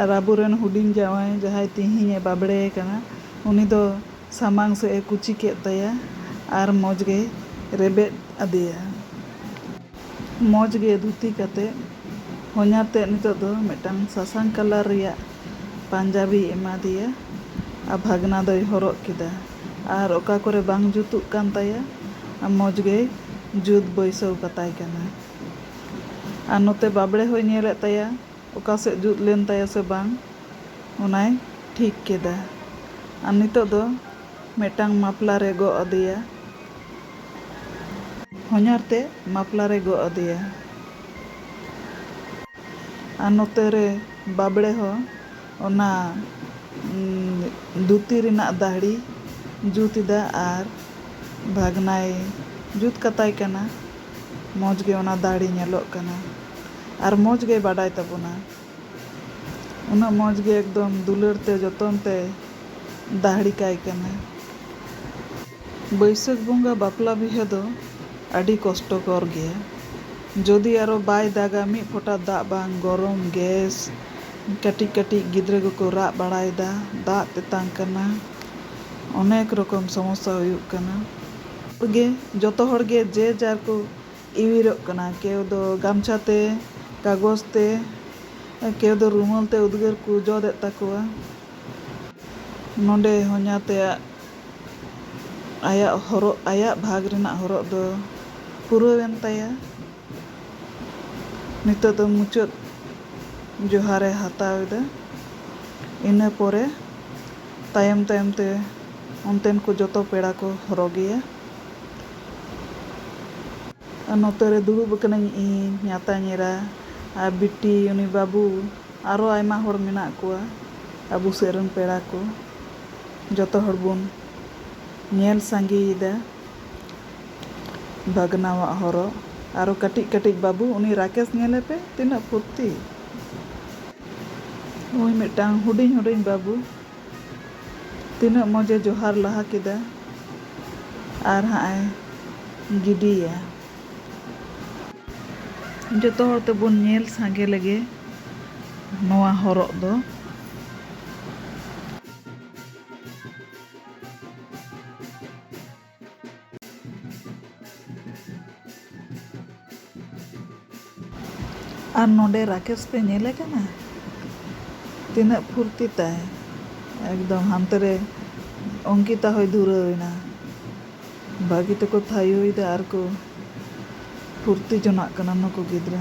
ᱟᱨ ᱟᱵᱚ ᱨᱮᱱ ᱦᱩᱰᱤᱧ ᱡᱟᱶᱟᱭ ᱡᱟᱦᱟᱸᱭ ᱛᱤᱦᱤᱧ ᱮ ᱵᱟᱵᱽᱲᱮ ᱟᱠᱟᱱᱟ ᱩᱱᱤ ᱫᱚ ᱥᱟᱢᱟᱝ ᱥᱮᱫ ᱮ ᱠᱩᱪᱤ ᱠᱮᱫ ᱛᱟᱭᱟ ᱟᱨ ᱢᱚᱡᱽ ᱜᱮᱭ ᱨᱮᱵᱮᱫ ᱟᱫᱮᱭᱟ᱾ ᱢᱚᱡᱽ ᱜᱮ ᱫᱷᱩᱛᱤ ᱠᱟᱛᱮᱫ ᱦᱚᱧᱦᱟᱨ ᱛᱮᱫ ᱱᱤᱛᱚᱜ ᱫᱚ ᱢᱤᱫᱴᱟᱝ ᱥᱟᱥᱟᱝ ᱠᱟᱞᱟᱨ ᱨᱮᱭᱟᱜ ᱯᱟᱧᱡᱟᱵᱤᱭ ᱮᱢᱟ ᱫᱮᱭᱟ ᱟᱨ ᱵᱷᱟᱜᱽᱱᱟ ᱫᱚᱭ ᱦᱚᱨᱚᱜ ᱠᱮᱫᱟ ᱟᱨ ᱚᱠᱟ ᱠᱚᱨᱮ ᱵᱟᱝ ᱡᱩᱛᱩᱜ ᱠᱟᱱ ᱛᱟᱭᱟ ᱢᱚᱡᱽ ᱜᱮᱭ ᱡᱩᱛ ᱵᱟᱹᱭᱥᱟᱹᱣ ᱠᱟᱛᱟᱭ ᱠᱟᱱᱟ ᱟᱨ ᱱᱚᱛᱮ ᱵᱟᱵᱽᱲᱮ ᱦᱚᱸᱭ ᱧᱮᱞᱮᱫ ᱛᱟᱭᱟ ᱚᱠᱟ ᱥᱮᱫ ᱡᱩᱛ ᱞᱮᱱ ᱛᱟᱭᱟ ᱥᱮ ᱵᱟᱝ ᱚᱱᱟᱭ ᱴᱷᱤᱠ ᱠᱮᱫᱟ ᱟᱨ ᱱᱤᱛᱚᱜ ᱫᱚ ᱢᱤᱫᱴᱟᱝ ᱢᱟᱯᱞᱟᱨᱮ ᱜᱚᱜ ᱟᱫᱮᱭᱟ ᱦᱚᱧᱦᱟᱨ ᱛᱮᱫ ᱢᱟᱯᱞᱟ ᱨᱮ ᱜᱚᱜ ᱟᱫᱮᱭᱟ᱾ ᱟᱨ ᱱᱚᱛᱮ ᱨᱮ ᱵᱟᱵᱽᱲᱮ ᱦᱚᱸ ᱚᱱᱟ ᱫᱷᱩᱛᱤ ᱨᱮᱱᱟᱜ ᱫᱟᱹᱦᱲᱤ ᱡᱩᱛ ᱮᱫᱟ ᱟᱨ ᱵᱷᱟᱜᱽᱱᱟᱭ ᱡᱩᱛ ᱠᱟᱛᱟᱭ ᱠᱟᱱᱟ᱾ ᱢᱚᱡᱽ ᱜᱮ ᱚᱱᱟ ᱫᱟᱹᱦᱲᱤ ᱧᱮᱞᱚᱜ ᱠᱟᱱᱟ ᱟᱨ ᱢᱚᱡᱽ ᱜᱮᱭ ᱵᱟᱰᱟᱭ ᱛᱟᱵᱚᱱᱟ᱾ ᱩᱱᱟᱹᱜ ᱢᱚᱡᱽ ᱜᱮ ᱮᱠᱫᱚᱢ ᱫᱩᱞᱟᱹᱲ ᱛᱮ ᱡᱚᱛᱚᱱ ᱛᱮᱭ ᱫᱟᱹᱦᱲᱤ ᱠᱟᱭ ᱠᱟᱱᱟ᱾ ᱵᱟᱹᱭᱥᱟᱹᱠᱷ ᱵᱚᱸᱜᱟ ᱵᱟᱯᱞᱟ ᱵᱤᱦᱟᱹ ᱫᱚ ᱟᱹᱰᱤ ᱠᱚᱥᱴᱚᱠᱚᱨ ᱜᱮᱭᱟ᱾ ᱡᱚᱫᱤ ᱟᱨᱚ ᱵᱟᱭ ᱫᱟᱜᱟ ᱢᱤᱫ ᱯᱷᱚᱴᱟ ᱫᱟᱜ ᱵᱟᱝ ᱜᱚᱨᱚᱢ ᱜᱮᱥ ᱠᱟᱹᱴᱤᱡ ᱠᱟᱹᱴᱤᱡ ᱜᱤᱫᱽᱨᱟᱹ ᱠᱚᱠᱚ ᱨᱟᱜ ᱵᱟᱲᱟᱭᱮᱫᱟ ᱫᱟᱜ ᱛᱮᱛᱟᱝ ᱠᱟᱱᱟ ᱚᱱᱮᱠ ᱨᱚᱠᱚᱢ ᱥᱚᱢᱚᱥᱥᱟ ᱦᱩᱭᱩᱜ ᱠᱟᱱᱟ᱾ ᱡᱚᱛᱚ ᱦᱚᱲ ᱜᱮ ᱡᱮ ᱡᱟᱨ ᱠᱚ ᱤᱣᱤᱨᱚᱜ ᱠᱟᱱᱟ ᱠᱮᱣ ᱫᱚ ᱜᱟᱢᱪᱷᱟ ᱛᱮ ᱠᱟᱜᱚᱡᱽ ᱛᱮ ᱠᱮᱣ ᱫᱚ ᱨᱩᱢᱟᱹᱞ ᱛᱮ ᱩᱫᱽᱜᱟᱹᱨ ᱠᱚ ᱡᱚᱫ ᱮᱫ ᱛᱟᱠᱚᱣᱟ ᱱᱚᱸᱰᱮ ᱦᱚᱧᱦᱟᱨ ᱛᱮᱭᱟᱜ ᱟᱭᱟᱜ ᱦᱚᱨᱚᱜ ᱟᱭᱟᱜ ᱵᱷᱟᱜᱽ ᱨᱮᱱᱟᱜ ᱦᱚᱨᱚᱜ ᱫᱚ ᱯᱩᱨᱟᱹᱣ ᱮᱱ ᱛᱟᱭᱟ ᱱᱤᱛᱚᱜ ᱫᱚ ᱢᱩᱪᱟᱹᱫ ᱡᱚᱦᱟᱨ ᱮ ᱦᱟᱛᱟᱣ ᱮᱫᱟ ᱤᱱᱟᱹ ᱯᱚᱨᱮ ᱛᱟᱭᱚᱢ ᱛᱟᱭᱚᱢ ᱛᱮ ᱚᱱᱛᱮᱱ ᱠᱚ ᱡᱚᱛᱚ ᱯᱮᱲᱟ ᱠᱚ ᱦᱚᱨᱚᱜᱮᱭᱟ᱾ ᱱᱚᱛᱮ ᱨᱮ ᱫᱩᱲᱩᱵ ᱟᱠᱟᱱᱟᱹᱧ ᱤᱧ, ᱧᱟᱛᱟᱧ ᱮᱨᱟ ᱟᱨ ᱵᱤᱴᱤ, ᱩᱱᱤ ᱵᱟᱹᱵᱩ ᱟᱨᱚ ᱟᱭᱢᱟ ᱦᱚᱲ ᱢᱮᱱᱟᱜ ᱠᱚᱣᱟ ᱟᱵᱚ ᱥᱮᱫ ᱨᱮᱱ ᱯᱮᱲᱟ ᱠᱚ᱾ ᱡᱚᱛᱚ ᱦᱚᱲ ᱵᱚᱱ ᱧᱮᱞ ᱥᱟᱸᱜᱮ ᱮᱫᱟ ᱵᱷᱟᱜᱽᱱᱟᱣᱟᱜ ᱦᱚᱨᱚᱜ᱾ ᱟᱨᱚ ᱠᱟᱹᱴᱤᱡ ᱠᱟᱹᱴᱤᱡ ᱵᱟᱹᱵᱩ, ᱩᱱᱤ ᱨᱟᱠᱮᱥ ᱧᱮᱞᱮ ᱯᱮ ᱛᱤᱱᱟᱹᱜ ᱯᱷᱩᱨᱛᱤ᱾ ᱱᱩᱭ ᱢᱤᱫᱴᱟᱹᱝ ᱦᱩᱰᱤᱧ ᱦᱩᱰᱤᱧ ᱵᱟᱹᱵᱩ᱾ ᱛᱤᱱᱟᱹᱜ ᱢᱚᱡᱽ ᱮ ᱡᱚᱦᱟᱨ ᱞᱟᱦᱟ ᱠᱮᱫᱟ ᱟᱨ ᱦᱟᱸᱜ ᱮ ᱜᱤᱰᱤᱭᱟ᱾ ᱡᱚᱛᱚ ᱦᱚᱲ ᱛᱮᱵᱚᱱ ᱧᱮᱞ ᱥᱟᱸᱜᱮ ᱞᱮᱜᱮ ᱱᱚᱣᱟ ᱦᱚᱨᱚᱜ ᱫᱚ᱾ ᱟᱨ ᱱᱚᱰᱮ ᱨᱟᱠᱮᱥ ᱯᱮ ᱧᱮᱞᱮ ᱠᱟᱱᱟ ᱛᱤᱱᱟᱹᱜ ᱯᱷᱩᱨᱛᱤ ᱛᱟᱭ ᱮᱠᱫᱚᱢ ᱦᱟᱱᱛᱮ ᱨᱮ ᱚᱝᱠᱤᱛᱟ ᱦᱚᱸᱭ ᱫᱷᱩᱨᱟᱹᱣ ᱮᱱᱟ ᱵᱷᱟᱹᱜᱤ ᱛᱮᱠᱚ ᱛᱷᱟᱭᱳᱭᱮᱫᱟ ᱟᱨ ᱠᱚ ᱯᱷᱩᱨᱛᱤ ᱡᱚᱱᱟᱜ ᱠᱟᱱᱟ ᱱᱩᱠᱩ ᱜᱤᱫᱽᱨᱟᱹ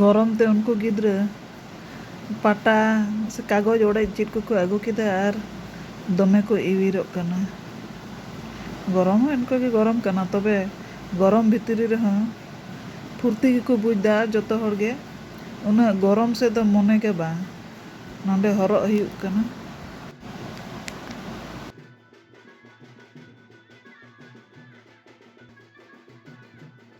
ᱜᱚᱨᱚᱢ ᱛᱮ ᱩᱱᱠᱩ ᱜᱤᱫᱽᱨᱟᱹ ᱯᱟᱴᱟ ᱥᱮ ᱠᱟᱜᱚᱡᱽ ᱚᱲᱮᱡ ᱪᱮᱫ ᱠᱚᱠᱚ ᱟᱹᱜᱩ ᱠᱮᱫᱟ ᱟᱨ ᱫᱚᱢᱮ ᱠᱚ ᱤᱣᱤᱨᱚᱜ ᱠᱟᱱᱟ᱾ ᱜᱚᱨᱚᱢ ᱦᱚᱸ ᱚᱱᱠᱟ ᱜᱮ ᱜᱚᱨᱚᱢ ᱠᱟᱱᱟ ᱛᱚᱵᱮ ᱜᱚᱨᱚᱢ ᱵᱷᱤᱛᱨᱤ ᱨᱮᱦᱚᱸ ᱯᱷᱩᱨᱛᱤ ᱜᱮᱠᱚ ᱵᱩᱡᱽ ᱮᱫᱟ ᱟᱨ ᱡᱚᱛᱚ ᱦᱚᱲ ᱜᱮ ᱩᱱᱟᱹᱜ ᱜᱚᱨᱚᱢ ᱥᱮᱫ ᱫᱚ ᱢᱚᱱᱮ ᱜᱮ ᱵᱟᱝ ᱱᱚᱸᱰᱮ ᱦᱚᱨᱚᱜ ᱦᱩᱭᱩᱜ ᱠᱟᱱᱟ᱾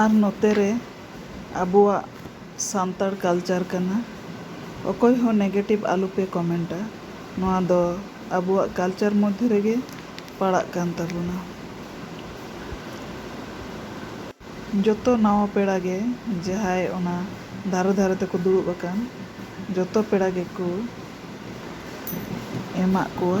ᱟᱨ ᱱᱚᱛᱮ ᱨᱮ ᱟᱵᱚᱣᱟᱜ ᱥᱟᱱᱛᱟᱲ ᱠᱟᱞᱪᱟᱨ ᱠᱟᱱᱟ ᱚᱠᱚᱭ ᱦᱚᱸ ᱱᱮᱜᱮᱴᱤᱵᱷ ᱟᱞᱚ ᱯᱮ ᱠᱚᱢᱮᱱᱴᱟ ᱱᱚᱣᱟ ᱫᱚ ᱟᱵᱚᱣᱟᱜ ᱠᱟᱞᱪᱟᱨ ᱢᱚᱫᱷᱮ ᱨᱮᱜᱮ ᱯᱟᱲᱟᱜ ᱠᱟᱱ ᱛᱟᱵᱚᱱᱟ ᱡᱚᱛᱚ ᱱᱟᱣᱟ ᱯᱮᱲᱟ ᱜᱮ ᱡᱟᱦᱟᱸᱭ ᱚᱱᱟ ᱫᱷᱟᱨᱮ ᱫᱷᱟᱨᱮ ᱛᱮᱠᱚ ᱫᱩᱲᱩᱵ ᱟᱠᱟᱱ ᱡᱚᱛᱚ ᱯᱮᱲᱟ ᱜᱮᱠᱚ ᱮᱢᱟᱜ ᱠᱚᱣᱟ᱾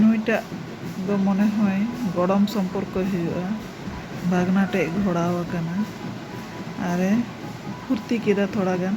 ᱱᱩᱭ ᱴᱟᱜ ᱫᱚ ᱢᱚᱱᱮ ᱦᱚᱭ ᱜᱚᱲᱚᱢ ᱥᱚᱢᱯᱚᱨᱠᱚᱭ ᱦᱩᱭᱩᱜᱼᱟ᱾ ᱵᱷᱟᱜᱽᱱᱟ ᱴᱷᱮᱡ ᱜᱷᱚᱲᱟᱣ ᱟᱠᱟᱱᱟ ᱟᱨ ᱮ ᱯᱷᱩᱨᱛᱤ ᱠᱮᱫᱟ ᱛᱷᱚᱲᱟ ᱜᱟᱱ᱾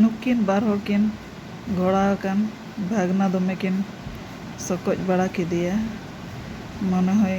ᱱᱩᱠᱤᱱ ᱵᱟᱨ ᱦᱚᱲ ᱠᱤᱱ ᱜᱷᱚᱲᱟ ᱟᱠᱟᱱ ᱵᱷᱟᱜᱽᱱᱟ ᱫᱚᱢᱮ ᱠᱤᱱ ᱥᱚᱠᱚᱡ ᱵᱟᱲᱟ ᱠᱮᱫᱮᱭᱟ ᱢᱚᱱᱮ ᱦᱚᱭ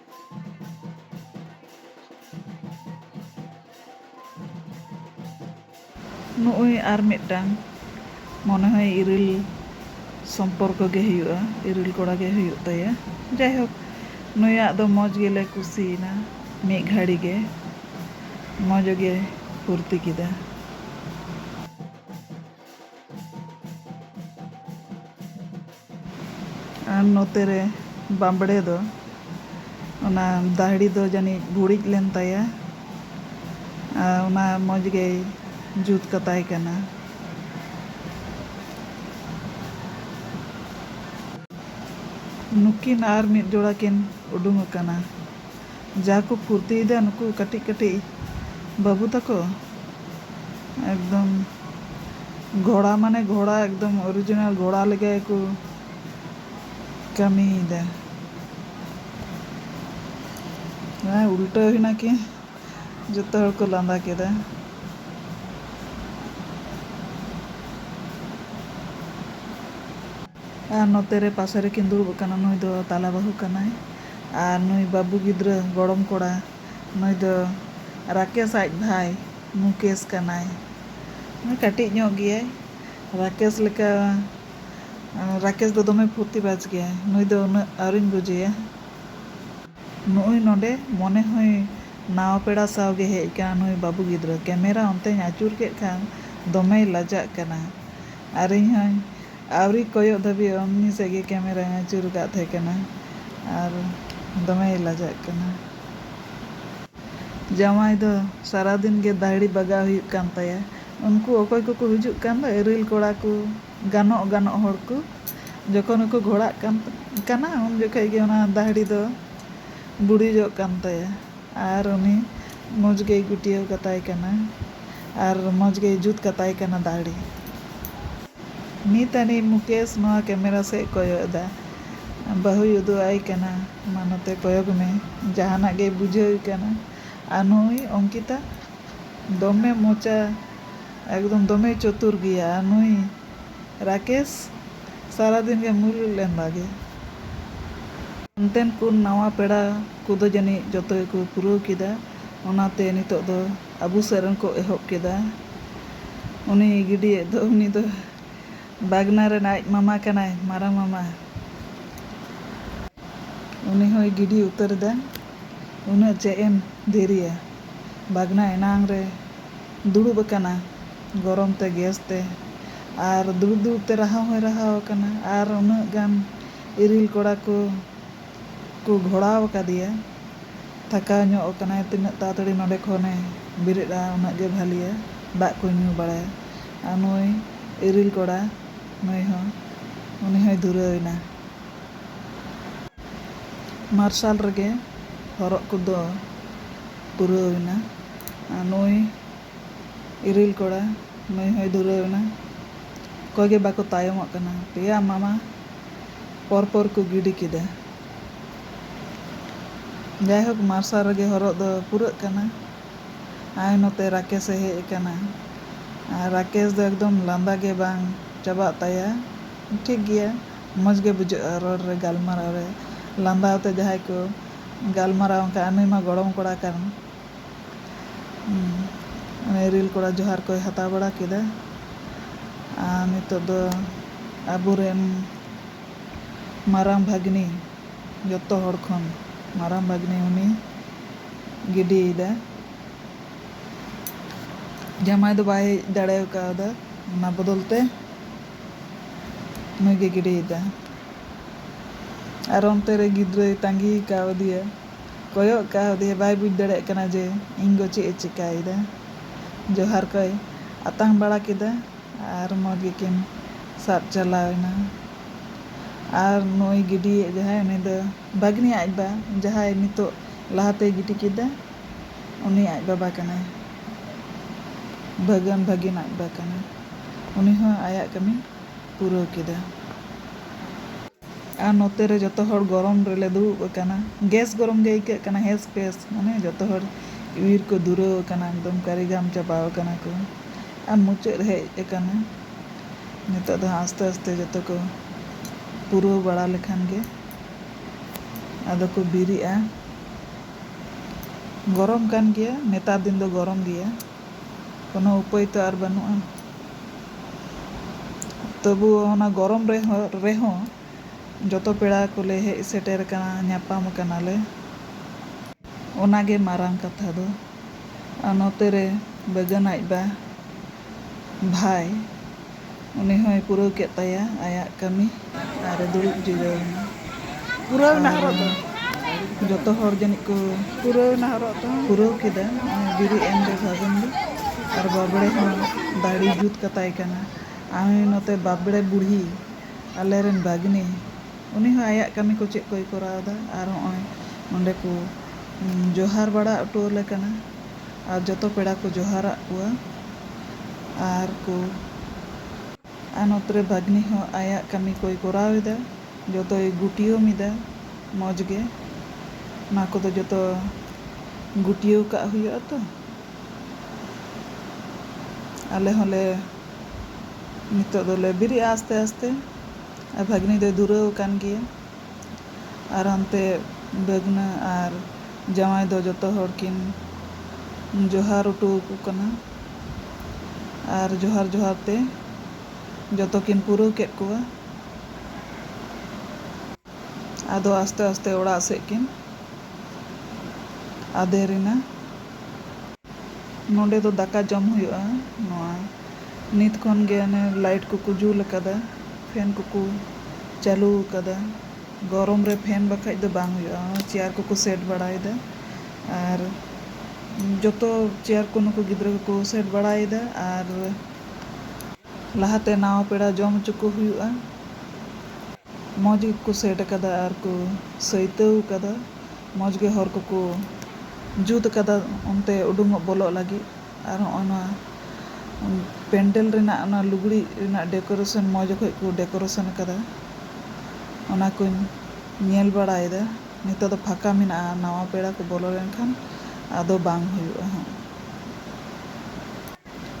ᱱᱩᱜᱩᱭ ᱟᱨ ᱢᱤᱫᱴᱟᱝ ᱢᱚᱱᱮ ᱦᱚᱭ ᱤᱨᱤᱞ ᱥᱚᱢᱯᱚᱨᱠᱚ ᱜᱮ ᱦᱩᱭᱩᱜᱼᱟ ᱤᱨᱤᱞ ᱠᱚᱲᱟ ᱜᱮ ᱦᱩᱭᱩᱜ ᱛᱟᱭᱟ ᱡᱟᱭᱦᱳᱠ ᱱᱩᱭᱟᱜ ᱫᱚ ᱢᱚᱡᱽ ᱜᱮᱞᱮ ᱠᱩᱥᱤᱭᱮᱱᱟ ᱢᱤᱫ ᱜᱷᱟᱹᱲᱤ ᱜᱮ ᱢᱚᱡᱽ ᱜᱮ ᱯᱷᱩᱨᱛᱤ ᱠᱮᱫᱟ᱾ ᱟᱨ ᱱᱚᱛᱮ ᱨᱮ ᱵᱟᱸᱵᱽᱲᱮ ᱫᱚ ᱚᱱᱟ ᱫᱟᱹᱦᱲᱤ ᱫᱚ ᱡᱟᱹᱱᱤᱡ ᱵᱷᱩᱲᱤᱡ ᱞᱮᱱ ᱛᱟᱭᱟ ᱟᱨ ᱚᱱᱟ ᱢᱚᱡᱽ ᱜᱮᱭ ᱡᱩᱛ ᱠᱟᱛᱟᱭ ᱠᱟᱱᱟ᱾ ᱱᱩᱠᱤᱱ ᱟᱨ ᱢᱤᱫ ᱡᱚᱲᱟ ᱠᱤᱱ ᱩᱰᱩᱝ ᱟᱠᱟᱱᱟ᱾ ᱡᱟ ᱠᱚ ᱯᱷᱩᱨᱛᱤᱭᱮᱫᱟ ᱱᱩᱠᱩ ᱠᱟᱹᱴᱤᱡ ᱠᱟᱹᱴᱤᱡ ᱵᱟᱹᱵᱩ ᱛᱟᱠᱚ ᱮᱠᱫᱚᱢ ᱜᱷᱚᱲᱟ ᱢᱟᱱᱮ ᱜᱷᱚᱲᱟ ᱮᱠᱫᱚᱢ ᱚᱨᱤᱡᱤᱱᱟᱞ ᱜᱷᱚᱲᱟ ᱞᱮᱠᱟ ᱜᱮᱠᱚ ᱠᱟᱹᱢᱤᱭᱮᱫᱟ ᱦᱮᱸ ᱩᱞᱴᱟᱹᱣ ᱦᱩᱭᱱᱟ ᱠᱤ ᱡᱚᱛᱚ ᱦᱚᱲ ᱠᱚ ᱞᱟᱸᱫᱟ ᱠᱮᱫᱟ ᱟᱨ ᱱᱚᱛᱮ ᱨᱮ ᱯᱟᱥᱮ ᱨᱮ ᱠᱤᱱ ᱫᱩᱲᱩᱵ ᱟᱠᱟᱱᱟ ᱱᱩᱭ ᱫᱚ ᱛᱟᱞᱟ ᱵᱟᱹᱦᱩ ᱠᱟᱱᱟᱭ ᱟᱨ ᱱᱩᱭ ᱵᱟᱹᱵᱩ ᱜᱤᱫᱽᱨᱟᱹ ᱜᱚᱲᱚᱢ ᱠᱚᱲᱟ ᱱᱩᱭ ᱫᱚ ᱨᱟᱠᱮᱥ ᱟᱡ ᱵᱷᱟᱭ ᱢᱩᱠᱮᱥ ᱠᱟᱱᱟᱭ ᱱᱩᱭ ᱠᱟᱹᱴᱤᱡ ᱧᱚᱜ ᱜᱮᱭᱟᱭ ᱨᱟᱠᱮᱥ ᱞᱮᱠᱟ ᱨᱟᱠᱮᱥ ᱫᱚ ᱫᱚᱢᱮ ᱯᱷᱩᱨᱛᱤ ᱵᱟᱡᱽ ᱜᱮᱭᱟᱭ ᱱᱩᱭ ᱫᱚ ᱩᱱᱟᱹᱜ ᱟᱹᱣᱨᱤᱧ ᱵᱩᱡᱮᱭᱟ ᱱᱩᱜᱼᱩᱭ ᱱᱚᱸᱰᱮ ᱢᱚᱱᱮ ᱦᱚᱭ ᱱᱟᱣᱟ ᱯᱮᱲᱟ ᱥᱟᱶ ᱜᱮ ᱦᱮᱡ ᱟᱠᱟᱱᱟ ᱱᱩᱭ ᱵᱟᱹᱵᱩ ᱜᱤᱫᱽᱨᱟᱹ ᱠᱮᱢᱮᱨᱟ ᱚᱱᱛᱮᱧ ᱟᱹᱪᱩᱨ ᱠᱮᱫ ᱠᱷᱟᱱ ᱫᱚᱢᱮᱭ ᱞᱟᱡᱟᱜ ᱠᱟᱱᱟ ᱟᱨ ᱤᱧ ᱦᱚᱸᱧ ᱟᱹᱣᱨᱤ ᱠᱚᱭᱚᱜ ᱫᱷᱟᱹᱵᱤᱡ ᱚᱢᱱᱤ ᱥᱮᱫ ᱜᱮ ᱠᱮᱢᱮᱨᱟᱧ ᱟᱹᱪᱩᱨ ᱟᱠᱟᱫ ᱛᱟᱦᱮᱸ ᱠᱟᱱᱟ ᱟᱨ ᱫᱚᱢᱮᱭ ᱞᱟᱡᱟᱜ ᱠᱟᱱᱟ᱾ ᱡᱟᱶᱟᱭ ᱫᱚ ᱥᱟᱨᱟ ᱫᱤᱱ ᱜᱮ ᱫᱟᱹᱦᱲᱤ ᱵᱟᱜᱟᱣ ᱦᱩᱭᱩᱜ ᱠᱟᱱ ᱛᱟᱭᱟ᱾ ᱩᱱᱠᱩ ᱚᱠᱚᱭ ᱠᱚᱠᱚ ᱦᱤᱡᱩᱜ ᱠᱟᱱ ᱫᱚ ᱤᱨᱤᱞ ᱠᱚᱲᱟ ᱠᱚ, ᱜᱟᱱᱚᱜ ᱜᱟᱱᱚᱜ ᱦᱚᱲ ᱠᱚ ᱡᱚᱠᱷᱚᱱ ᱜᱮᱠᱚ ᱜᱷᱚᱲᱟᱜ ᱠᱟᱱᱟ ᱩᱱ ᱡᱚᱠᱷᱚᱱ ᱜᱮ ᱚᱱᱟ ᱫᱟᱹᱦᱲᱤ ᱫᱚ ᱵᱩᱲᱤᱡᱚᱜ ᱠᱟᱱ ᱛᱟᱭᱟ᱾ ᱟᱨ ᱩᱱᱤ ᱢᱚᱡᱽ ᱜᱮᱭ ᱜᱩᱴᱭᱟᱹᱣ ᱠᱟᱛᱟᱭ ᱠᱟᱱᱟ ᱟᱨ ᱢᱚᱡᱽ ᱜᱮᱭ ᱡᱩᱛ ᱠᱟᱛᱟᱭ ᱠᱟᱱᱟ ᱫᱟᱹᱲᱤ᱾ ᱱᱤᱛ ᱟᱹᱱᱤᱡ ᱢᱩᱠᱮᱥ ᱱᱚᱣᱟ ᱠᱮᱢᱮᱨᱟ ᱥᱮᱫ ᱠᱚᱭᱚᱜ ᱮᱫᱟ᱾ ᱵᱟᱹᱦᱩᱭ ᱩᱫᱩᱜ ᱟᱭ ᱠᱟᱱᱟ, ᱢᱟ ᱱᱚᱛᱮ ᱠᱚᱭᱚᱜᱽ ᱢᱮ᱾ ᱡᱟᱦᱟᱱᱟᱜ ᱜᱮᱭ ᱵᱩᱡᱷᱟᱹᱣ ᱮ ᱠᱟᱱᱟ᱾ ᱟᱨ ᱱᱩᱭ ᱚᱝᱠᱤᱛᱟ ᱫᱚᱢᱮ ᱢᱚᱪᱟ ᱮᱠᱫᱚᱢ ᱫᱚᱢᱮᱭ ᱪᱚᱛᱩᱨ ᱜᱮᱭᱟ ᱟᱨ ᱱᱩᱭ ᱨᱟᱠᱮᱥ ᱥᱟᱨᱟ ᱫᱤᱱ ᱜᱮ ᱢᱩᱞᱩᱡ ᱞᱮᱱᱫᱟ ᱜᱮ᱾ ᱚᱱᱛᱮᱱ ᱠᱚ ᱱᱟᱣᱟ ᱯᱮᱲᱟ᱾ ᱠᱚᱫᱚ ᱡᱟᱹᱱᱤᱡ ᱡᱚᱛᱚ ᱜᱮᱠᱚ ᱯᱩᱨᱟᱹᱣ ᱠᱮᱫᱟ᱾ ᱚᱱᱟᱛᱮ ᱱᱤᱛᱚᱜ ᱫᱚ ᱟᱵᱚ ᱥᱮᱫ ᱨᱮᱱ ᱠᱚ ᱮᱦᱚᱵ ᱠᱮᱫᱟ᱾ ᱩᱱᱤ ᱜᱤᱰᱤᱭᱮᱫ ᱫᱚ ᱩᱱᱤ ᱫᱚ ᱵᱟᱜᱽᱱᱟ ᱨᱮᱱ ᱟᱡ ᱢᱟᱢᱟ ᱠᱟᱱᱟᱭ, ᱢᱟᱨᱟᱝ ᱢᱟᱢᱟ᱾ ᱩᱱᱤ ᱦᱚᱸᱭ ᱜᱤᱰᱤ ᱩᱛᱟᱹᱨ ᱮᱫᱟ᱾ ᱩᱱᱟᱹᱜ ᱪᱮᱫ ᱮᱢ ᱫᱮᱨᱤᱭᱟ᱾ ᱵᱟᱜᱽᱱᱟ ᱮᱱᱟᱝ ᱨᱮ ᱫᱩᱲᱩᱵ ᱟᱠᱟᱱᱟ ᱜᱚᱨᱚᱢ ᱛᱮ ᱜᱮᱥ ᱛᱮ ᱟᱨ ᱫᱩᱲᱩᱵ ᱫᱩᱲᱩᱵ ᱛᱮ ᱨᱟᱦᱟᱣ ᱦᱚᱸᱭ ᱨᱟᱦᱟᱣ ᱟᱠᱟᱱᱟ ᱟᱨ ᱩᱱᱟᱹᱜ ᱜᱟᱱ ᱤᱨᱤᱞ ᱠᱚᱲᱟ ᱠᱚ᱾ ᱠᱚ ᱜᱷᱚᱲᱟᱣ ᱟᱠᱟᱫᱮᱭᱟ᱾ ᱛᱷᱟᱠᱟᱣ ᱧᱚᱜ ᱟᱠᱟᱱᱟᱭ᱾ ᱛᱤᱱᱟᱹᱜ ᱛᱟᱲᱟᱛᱟᱹᱲᱤ ᱱᱚᱸᱰᱮ ᱠᱷᱚᱱ ᱮ ᱵᱮᱨᱮᱫᱼᱟ ᱩᱱᱟᱹᱜ ᱜᱮ ᱵᱷᱟᱹᱞᱤᱭᱟ᱾ ᱫᱟᱜ ᱠᱚᱭ ᱧᱩ ᱵᱟᱲᱟᱭᱟ᱾ ᱟᱨ ᱱᱩᱭ ᱤᱨᱤᱞ ᱠᱚᱲᱟ ᱱᱩᱭ ᱦᱚᱸ ᱩᱱᱤ ᱦᱚᱸᱭ ᱫᱷᱩᱨᱟᱹᱣ ᱮᱱᱟ᱾ ᱢᱟᱨᱥᱟᱞ ᱨᱮᱜᱮ ᱦᱚᱨᱚᱜ ᱠᱚᱫᱚ ᱯᱩᱨᱟᱹᱣ ᱮᱱᱟ᱾ ᱟᱨ ᱱᱩᱭ᱾ ᱤᱨᱤᱞ ᱠᱚᱲᱟ ᱱᱩᱭ ᱦᱚᱸᱭ ᱫᱷᱩᱨᱟᱹᱣ ᱮᱱᱟ᱾ ᱚᱠᱚᱭ ᱜᱮ ᱵᱟᱠᱚ ᱛᱟᱭᱚᱢᱚᱜ ᱠᱟᱱᱟ᱾ ᱯᱮᱭᱟ ᱢᱟᱢᱟ ᱯᱚᱨ ᱯᱚᱨ ᱠᱚ ᱜᱤᱰᱤ ᱠᱮᱫᱟ᱾ ᱡᱟᱭᱦᱳᱠ ᱢᱟᱨᱥᱟᱞ ᱨᱮᱜᱮ ᱦᱚᱨᱚᱜ ᱫᱚ ᱯᱩᱨᱟᱹᱜ ᱠᱟᱱᱟ᱾ ᱟᱭ ᱱᱚᱛᱮ ᱨᱟᱠᱮᱥ ᱮ ᱦᱮᱡ ᱟᱠᱟᱱᱟ᱾ ᱟᱨ ᱨᱟᱠᱮᱥ ᱫᱚ ᱮᱠᱫᱚᱢ ᱞᱟᱸᱫᱟ ᱜᱮ ᱵᱟᱝ ᱪᱟᱵᱟᱜ ᱛᱟᱭᱟ᱾ ᱴᱷᱤᱠ ᱜᱮᱭᱟ ᱢᱚᱡᱽ ᱜᱮ ᱵᱩᱡᱷᱟᱹᱜᱼᱟ ᱨᱚᱲ ᱨᱮ ᱜᱟᱞᱢᱟᱨᱟᱣ ᱨᱮ ᱞᱟᱸᱫᱟ ᱟᱛᱮ ᱡᱟᱦᱟᱸᱭ ᱠᱚ ᱜᱟᱞᱢᱟᱨᱟᱣ ᱮᱱᱠᱷᱟᱱ ᱱᱩᱭ ᱢᱟ ᱜᱚᱲᱚᱢ ᱠᱚᱲᱟ ᱠᱟᱱ᱾ ᱩᱱᱤ ᱨᱤᱞ ᱠᱚᱲᱟ ᱡᱚᱦᱟᱨ ᱠᱚᱭ ᱦᱟᱛᱟᱣ ᱵᱟᱲᱟ ᱠᱮᱫᱟ ᱟᱨ ᱱᱤᱛᱚᱜ ᱫᱚ ᱟᱵᱚ ᱨᱮᱱ ᱢᱟᱨᱟᱝ ᱵᱷᱟᱹᱜᱽᱱᱤ ᱡᱚᱛᱚ ᱦᱚᱲ ᱠᱷᱚᱱ ᱢᱟᱨᱟᱝ ᱵᱷᱟᱹᱜᱽᱱᱤ ᱩᱱᱤ ᱜᱤᱰᱤᱭᱮᱫᱟ ᱡᱟᱢᱟᱭ ᱫᱚ ᱵᱟᱭ ᱦᱮᱡ ᱫᱟᱲᱮ ᱠᱟᱣᱫᱟ ᱚᱱᱟ ᱵᱚᱫᱚᱞ ᱛᱮ ᱱᱩᱭ ᱜᱮ ᱜᱤᱰᱤᱭᱮᱫᱟ ᱟᱨ ᱚᱱᱛᱮ ᱨᱮ ᱜᱤᱫᱽᱨᱟᱹᱭ ᱛᱟᱺᱜᱤ ᱠᱟᱣᱫᱮᱭᱟ ᱠᱚᱭᱚᱜ ᱠᱟᱣᱫᱮᱭᱟ ᱵᱟᱭ ᱵᱩᱡᱽ ᱫᱟᱲᱮᱭᱟᱜ ᱠᱟᱱᱟ ᱡᱮ ᱤᱧ ᱜᱚ ᱪᱮᱫ ᱮ ᱪᱮᱠᱟᱭᱮᱫᱟ᱾ ᱡᱚᱦᱟᱨ ᱠᱚᱭ ᱟᱛᱟᱝ ᱵᱟᱲᱟ ᱠᱮᱫᱟ ᱟᱨ ᱢᱚᱡᱽ ᱜᱮᱠᱤᱱ ᱥᱟᱵ ᱪᱟᱞᱟᱣ ᱮᱱᱟ᱾ ᱟᱨ ᱱᱩᱭ ᱜᱤᱰᱤᱭᱤᱡ ᱡᱟᱦᱟᱸᱭ ᱩᱱᱤ ᱫᱚ ᱵᱷᱟᱹᱜᱽᱱᱤ ᱟᱡ ᱵᱟ ᱡᱟᱦᱟᱸᱭ ᱱᱤᱛᱚᱜ ᱞᱟᱦᱟ ᱛᱮᱭ ᱜᱤᱰᱤ ᱠᱮᱫᱟ ᱩᱱᱤ ᱟᱡ ᱵᱟᱵᱟ ᱠᱟᱱᱟᱭ᱾ ᱵᱷᱟᱹᱜᱟᱹᱱ ᱵᱷᱟᱹᱜᱤᱱ ᱟᱡ ᱵᱟ ᱠᱟᱱᱟᱭ᱾ ᱩᱱᱤ ᱦᱚᱸ ᱟᱭᱟᱜ ᱠᱟᱹᱢᱤ ᱯᱩᱨᱟᱹᱣ ᱠᱮᱫᱟ᱾ ᱟᱨ ᱱᱚᱛᱮ ᱨᱮ ᱡᱚᱛᱚ ᱦᱚᱲ ᱜᱚᱨᱚᱢ ᱨᱮᱞᱮ ᱫᱩᱲᱩᱵ ᱟᱠᱟᱱᱟ᱾ ᱜᱮᱥ ᱜᱚᱨᱚᱢ ᱜᱮ ᱟᱹᱭᱠᱟᱹᱜ ᱠᱟᱱᱟ ᱦᱮᱥ ᱯᱮᱥ᱾ ᱢᱟᱱᱮ ᱡᱚᱛᱚ ᱦᱚᱲ ᱤᱣᱤᱨ ᱠᱚ ᱫᱩᱨᱟᱹᱣ ᱟᱠᱟᱱᱟ ᱮᱠᱫᱚᱢ ᱠᱟᱹᱨᱤᱜᱟᱢ ᱪᱟᱵᱟᱣ ᱟᱠᱟᱱᱟ ᱠᱚ᱾ ᱟᱨ ᱢᱩᱪᱟᱹᱫ ᱦᱮᱡ ᱟᱠᱟᱱᱟ᱾ ᱱᱤᱛᱚᱜ ᱫᱚ ᱦᱟᱸᱜ ᱟᱥᱛᱮ ᱟᱥᱛᱮ ᱡᱚᱛᱚ ᱠᱚ ᱯᱩᱨᱟᱹᱣ ᱵᱟᱲᱟ ᱞᱮᱠᱷᱟᱱ ᱜᱮ ᱟᱫᱚ ᱠᱚ ᱵᱤᱨᱤᱜᱼᱟ᱾ ᱜᱚᱨᱚᱢ ᱠᱟᱱ ᱜᱮᱭᱟ ᱱᱮᱛᱟᱨ ᱫᱤᱱ ᱫᱚ ᱜᱚᱨᱚᱢ ᱜᱮᱭᱟ᱾ ᱠᱚᱱᱚ ᱩᱯᱟᱹᱭ ᱛᱚ ᱟᱨ ᱵᱟᱹᱱᱩᱜᱼᱟ᱾ ᱛᱚᱵᱩ ᱚᱱᱟ ᱜᱚᱨᱚᱢ ᱨᱮᱦᱚᱸ ᱡᱚᱛᱚ ᱯᱮᱲᱟ ᱠᱚᱞᱮ ᱦᱮᱡ ᱥᱮᱴᱮᱨ ᱟᱠᱟᱱᱟ, ᱧᱟᱯᱟᱢ ᱟᱠᱟᱱᱟ ᱞᱮ᱾ ᱚᱱᱟ ᱜᱮ ᱢᱟᱨᱟᱝ ᱠᱟᱛᱷᱟ ᱫᱚ᱾ ᱟᱨ ᱱᱚᱛᱮ ᱨᱮ ᱵᱟᱹᱜᱟᱹᱱ ᱟᱡ ᱵᱟ ᱵᱷᱟᱭ᱾ ᱩᱱᱤ ᱦᱚᱸᱭ ᱯᱩᱨᱟᱹᱣ ᱠᱮᱫ ᱛᱟᱭᱟ ᱟᱭᱟᱜ ᱠᱟᱹᱢᱤ ᱟᱨ ᱮ ᱫᱩᱲᱩᱵ ᱡᱤᱨᱟᱹᱣ ᱮᱱᱟ᱾ ᱯᱩᱨᱟᱹᱣ ᱮᱱᱟ ᱦᱚᱨᱚᱜ ᱫᱚ᱾ ᱟᱨ ᱡᱚᱛᱚ ᱦᱚᱲ ᱡᱟᱹᱱᱤᱡ ᱠᱚ ᱯᱩᱨᱟᱹᱣ ᱮᱱᱟ ᱦᱚᱨᱚᱜ ᱫᱚ᱾ ᱯᱩᱨᱟᱹᱣ ᱠᱮᱫᱟ᱾ ᱱᱚᱜᱼᱚᱭ ᱵᱤᱨᱤᱫ ᱮᱱ ᱫᱚ ᱥᱟᱜᱩᱱ ᱫᱚ᱾ ᱟᱨ ᱵᱟᱵᱽᱲᱮ ᱦᱚᱸ ᱫᱟᱹᱲᱤ ᱡᱩᱛ ᱠᱟᱛᱟᱭ ᱠᱟᱱᱟ᱾ ᱟᱦᱚᱸᱭ ᱱᱚᱛᱮ ᱵᱟᱵᱽᱲᱮ ᱵᱩᱲᱦᱤ, ᱟᱞᱮ ᱨᱮᱱ ᱵᱟᱜᱽᱱᱤ, ᱩᱱᱤ ᱦᱚᱸ ᱟᱭᱟᱜ ᱠᱟᱹᱢᱤ ᱠᱚ ᱪᱮᱫ ᱠᱚᱭ ᱠᱚᱨᱟᱣ ᱮᱫᱟ᱾ ᱟᱨ ᱦᱚᱸᱜᱼᱚᱭ ᱱᱚᱸᱰᱮ ᱠᱚ ᱡᱚᱦᱟᱨ ᱵᱟᱲᱟ ᱚᱴᱚ ᱟᱞᱮ ᱠᱟᱱᱟ᱾ ᱟᱨ ᱡᱚᱛᱚ ᱯᱮᱲᱟ ᱠᱚ ᱡᱚᱦᱟᱨ ᱟᱫ ᱠᱚᱣᱟ ᱟᱨ ᱠᱚ᱾ ᱟᱨ ᱱᱚᱛᱮ ᱨᱮ ᱵᱷᱟᱹᱜᱽᱱᱤ ᱦᱚᱸ ᱟᱭᱟᱜ ᱠᱟᱹᱢᱤ ᱠᱚᱭ ᱠᱚᱨᱟᱣ ᱮᱫᱟ, ᱡᱚᱛᱚᱭ ᱜᱩᱴᱭᱟᱹᱣ ᱢᱤᱫᱟ ᱢᱚᱡᱽ ᱜᱮ᱾ ᱚᱱᱟ ᱠᱚᱫᱚ ᱡᱚᱛᱚ ᱜᱩᱴᱭᱟᱹᱣ ᱠᱟᱜ ᱦᱩᱭᱩᱜᱼᱟ ᱛᱚ᱾ ᱟᱞᱮ ᱦᱚᱸ ᱞᱮ ᱱᱤᱛᱚᱜ ᱫᱚᱞᱮ ᱵᱮᱨᱮᱫᱼᱟ ᱟᱥᱛᱮ ᱟᱥᱛᱮ ᱟᱨ ᱵᱷᱟᱹᱜᱽᱱᱤ ᱫᱚᱭ ᱫᱷᱩᱨᱟᱹᱣ ᱟᱠᱟᱱ ᱜᱮᱭᱟ᱾ ᱟᱨ ᱦᱟᱱᱛᱮ ᱵᱷᱟᱹᱜᱽᱱᱟᱹ ᱟᱨ ᱡᱟᱶᱟᱭ ᱫᱚ ᱡᱚᱛᱚ ᱦᱚᱲ ᱠᱤᱱ ᱡᱚᱦᱟᱨ ᱚᱴᱚ ᱟᱠᱚ ᱠᱟᱱᱟ᱾ ᱟᱨ ᱡᱚᱦᱟᱨ ᱡᱚᱦᱟᱨ ᱛᱮ ᱡᱚᱛᱚ ᱠᱤᱱ ᱯᱩᱨᱟᱹᱣ ᱠᱮᱫ ᱠᱚᱣᱟ᱾ ᱟᱫᱚ ᱟᱥᱛᱮ ᱟᱥᱛᱮ ᱚᱲᱟᱜ ᱥᱮᱫ ᱠᱤᱱ ᱟᱫᱮᱨ ᱮᱱᱟ᱾ ᱱᱚᱰᱮ ᱫᱚ ᱫᱟᱠᱟ ᱡᱚᱢ ᱦᱩᱭᱩᱜᱼᱟ᱾ ᱱᱚᱶᱟ᱾ ᱱᱤᱛ ᱠᱷᱚᱱ ᱜᱮ ᱚᱱᱮ ᱞᱟᱭᱤᱴ ᱠᱚᱠᱚ ᱡᱩᱞ ᱟᱠᱟᱫᱟ ᱯᱷᱮᱱ ᱠᱚᱠᱚ ᱪᱟᱹᱞᱩ ᱟᱠᱟᱫᱟ ᱜᱚᱨᱚᱢ ᱨᱮ ᱯᱷᱮᱱ ᱵᱟᱠᱷᱟᱱ ᱫᱚ ᱵᱟᱝ ᱦᱩᱭᱩᱜᱼᱟ ᱪᱮᱭᱟᱨ ᱠᱚᱠᱚ ᱥᱮᱴ ᱵᱟᱲᱟᱭᱮᱫᱟ ᱟᱨ ᱡᱚᱛᱚ ᱪᱮᱭᱟᱨ ᱠᱚ ᱱᱩᱠᱩ ᱜᱤᱫᱽᱨᱟᱹ ᱠᱚᱠᱚ ᱥᱮᱴ ᱵᱟᱲᱟᱭᱮᱫᱟ ᱟᱨ ᱞᱟᱦᱟᱛᱮ ᱱᱟᱣᱟ ᱯᱮᱲᱟ ᱡᱚᱢ ᱦᱚᱪᱚ ᱠᱚ ᱦᱩᱭᱩᱜᱼᱟ ᱢᱚᱡᱽ ᱜᱮᱠᱚ ᱥᱮᱴ ᱟᱠᱟᱫᱟ ᱟᱨ ᱠᱚ ᱥᱟᱹᱭᱛᱟᱹᱣ ᱟᱠᱟᱫᱟ ᱢᱚᱡᱽ ᱜᱮ ᱦᱚᱨ ᱠᱚᱠᱚ ᱡᱩᱛ ᱟᱠᱟᱫᱟ ᱚᱱᱛᱮ ᱩᱰᱩᱝᱚᱜ ᱵᱚᱞᱚᱜ ᱞᱟᱹᱜᱤᱫ ᱟᱨ ᱦᱚᱸᱜᱼᱚᱭ ᱱᱚᱣᱟ ᱯᱮᱱᱰᱮᱞ ᱨᱮᱱᱟᱜ ᱚᱱᱟ ᱞᱩᱜᱽᱲᱤᱡ ᱨᱮᱱᱟᱜ ᱰᱮᱠᱚᱨᱮᱥᱚᱱ ᱢᱚᱡᱽ ᱚᱠᱚᱡ ᱠᱚ ᱰᱮᱠᱚᱨᱮᱥᱚᱱ ᱟᱠᱟᱫᱟ ᱚᱱᱟ ᱠᱚᱧ ᱧᱮᱞ ᱵᱟᱲᱟᱭᱮᱫᱟ ᱱᱤᱛᱳᱜ ᱫᱚ ᱯᱷᱟᱸᱠᱟ ᱢᱮᱱᱟᱜᱼᱟ ᱱᱟᱣᱟ ᱯᱮᱲᱟ ᱠᱚ ᱵᱚᱞᱚ ᱞᱮᱱᱠᱷᱟᱱ ᱟᱫᱚ ᱵᱟᱝ ᱦᱩᱭᱩᱜᱼᱟ ᱦᱟᱸᱜ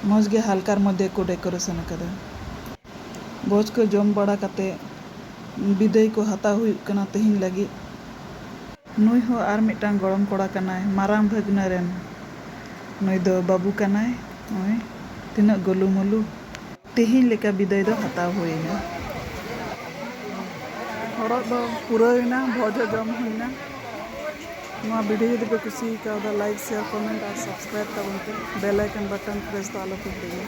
ᱢᱚᱡᱽ ᱜᱮ ᱦᱟᱞᱠᱟᱨ ᱢᱚᱫᱽᱫᱷᱮ ᱠᱚ ᱰᱮᱠᱚᱨᱮᱥᱚᱱ ᱟᱠᱟᱫᱟ ᱵᱷᱚᱡᱽ ᱠᱚ ᱡᱚᱢ ᱵᱟᱲᱟ ᱠᱟᱛᱮ ᱵᱤᱫᱟᱹᱭ ᱠᱚ ᱦᱟᱛᱟᱣ ᱦᱩᱭᱩᱜ ᱠᱟᱱᱟ ᱛᱮᱦᱮᱧ ᱞᱟᱹᱜᱤᱫ ᱱᱩᱭ ᱦᱚᱸ ᱟᱨ ᱢᱤᱫᱴᱟᱝ ᱜᱚᱲᱚᱢ ᱠᱚᱲᱟ ᱠᱟᱱᱟᱭ ᱢᱟᱨᱟᱝ ᱵᱷᱟᱹᱜᱽᱱᱟᱹ ᱨᱮᱱ᱾ ᱱᱩᱭ ᱫᱚ ᱵᱟᱹᱵᱩ ᱠᱟᱱᱟᱭ ᱱᱚᱜᱼᱚᱭ ᱛᱤᱱᱟᱹᱜ ᱜᱳᱞᱩ ᱢᱳᱞᱩ᱾ ᱛᱮᱦᱮᱧ ᱞᱮᱠᱟ ᱵᱤᱫᱟᱹᱭ ᱫᱚ ᱦᱟᱛᱟᱣ ᱦᱩᱭ ᱮᱱᱟ᱾ ᱦᱚᱨᱚᱜ ᱫᱚ ᱯᱩᱨᱟᱹᱣ ᱮᱱᱟ, ᱵᱷᱚᱡᱽ ᱦᱚᱸ ᱡᱚᱢ ᱦᱩᱭ ᱮᱱᱟ᱾ ᱱᱚᱣᱟ ᱵᱷᱤᱰᱤᱭᱳ ᱡᱩᱫᱤ ᱯᱮ ᱠᱩᱥᱤ ᱟᱠᱟᱣᱫᱟ ᱞᱟᱭᱤᱠ, ᱥᱮᱭᱟᱨ, ᱠᱚᱢᱮᱱᱴ ᱟᱨ ᱥᱟᱵᱥᱠᱨᱟᱭᱤᱵᱽ ᱛᱟᱵᱚᱱ ᱯᱮ᱾ ᱵᱮᱞ ᱟᱭᱠᱚᱱ ᱵᱟᱴᱚᱱ ᱯᱨᱮᱥ ᱫᱚ ᱟᱞᱚ ᱯᱮ ᱦᱤᱲᱤᱧᱟ᱾